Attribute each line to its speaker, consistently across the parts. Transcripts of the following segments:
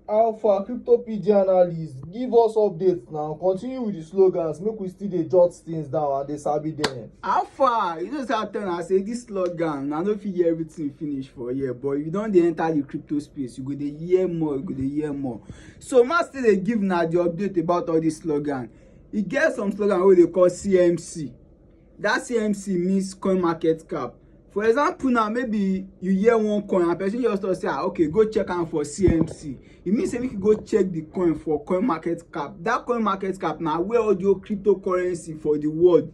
Speaker 1: How far CryptoPedia analyst give us updates now continue with the slogans make we still dey jot things down and dey sabi them. How far you know
Speaker 2: say I tell una say this slogan I no fit hear everything finish for here but if you don dey enter the crypto space you go dey hear more you go dey hear more so ma still dey give una the update about all this slogan e get some slogan wey dey call CMC that CMC means coin market cap. For example now, maybe you hear one coin and person just talk say, ah, okay, go check am for CMC. It means say make you go check the coin for coin market cap. That coin market cap na where all your cryptocurrency for the world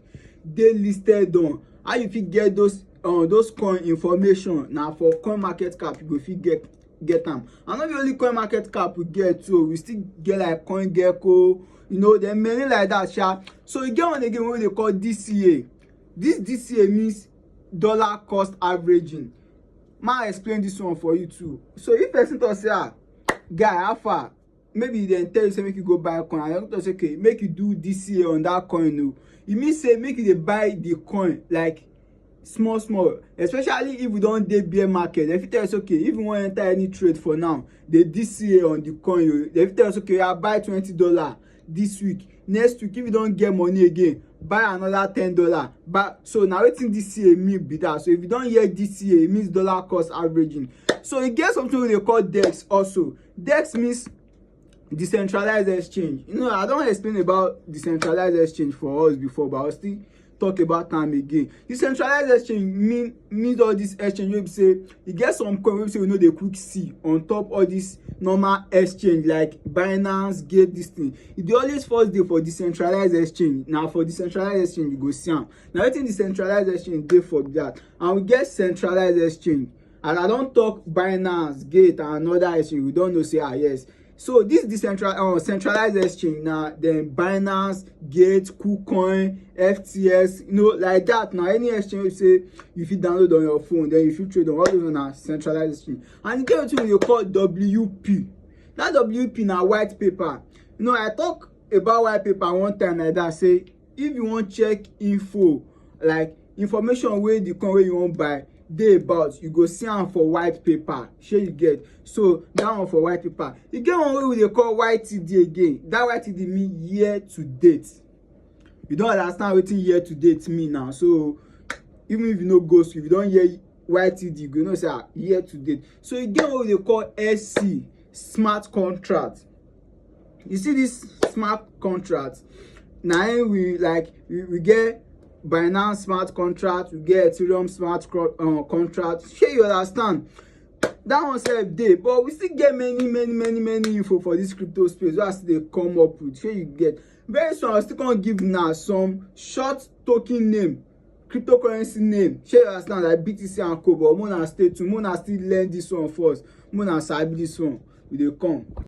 Speaker 2: dey listed on. How you fit get those uh, those coin information na for coin market cap you go fit get get am and no be only coin market cap we get too we still get like coin gecko you know there many like that sha so e get one again wey we dey call dca this dca means dollar cost averaging ma explain this one for you too so if person talk say ah guy how far maybe dem tell you say make you go buy coin and doctor say okay make you do dca on that coin o e mean say make you dey buy the coin like small small especially if we don dey bear market dem fit tell us okay if you wan enter any trade for now dey dca on the coin o dem fit tell us okay i buy twenty dollar this week next week if you don get money again buy another ten dollar but so na wetin dca mean be that so if you don hear dca e means dollar cost averaging so e get something wey dey call dex also dex means decentralized exchange you know i don explain about decentralized exchange for us before but i still talk about am again decentralized exchange mean means all this exchange wey be say e get some coin wey be say we no dey quick see on top all this normal exchange like binance gate this thing e dey always first dey for decentralized exchange na for decentralized exchange you go see am na wetin decentralized exchange dey for be that and we get centralized exchange as i don talk binance gate and another exchange we don know say ah yes so this decentralized uh, centralized exchange na dem binance gate kucoin ftx you know like that na any exchange say you fit download on your phone then you fit trade on all those na centralized exchange and e get wetin we dey call wp that wp na white paper you know i talk about white paper one time like that say if you wan check info like information wey the coin wey you wan buy dey about you go see am for white paper shey you get so that one for white paper e get one wey we dey call ytd again that ytd mean year to date you don understand wetin year to date mean now so even if you no go school if you don hear ytd you go know say ah year to date so e get one wey we dey call sc smart contract you see this smart contract na im we like we, we get binance smart contract we get ethereum smart uh, contract shey you understand that one sef dey but we still get many many many many info for this crypto space wey i still dey come up with shey you get very soon i still come give una some short token name cryptocurrency name shey you understand like btc and co but mona stay tuned mona still learn this one first mona sabi this one we dey come.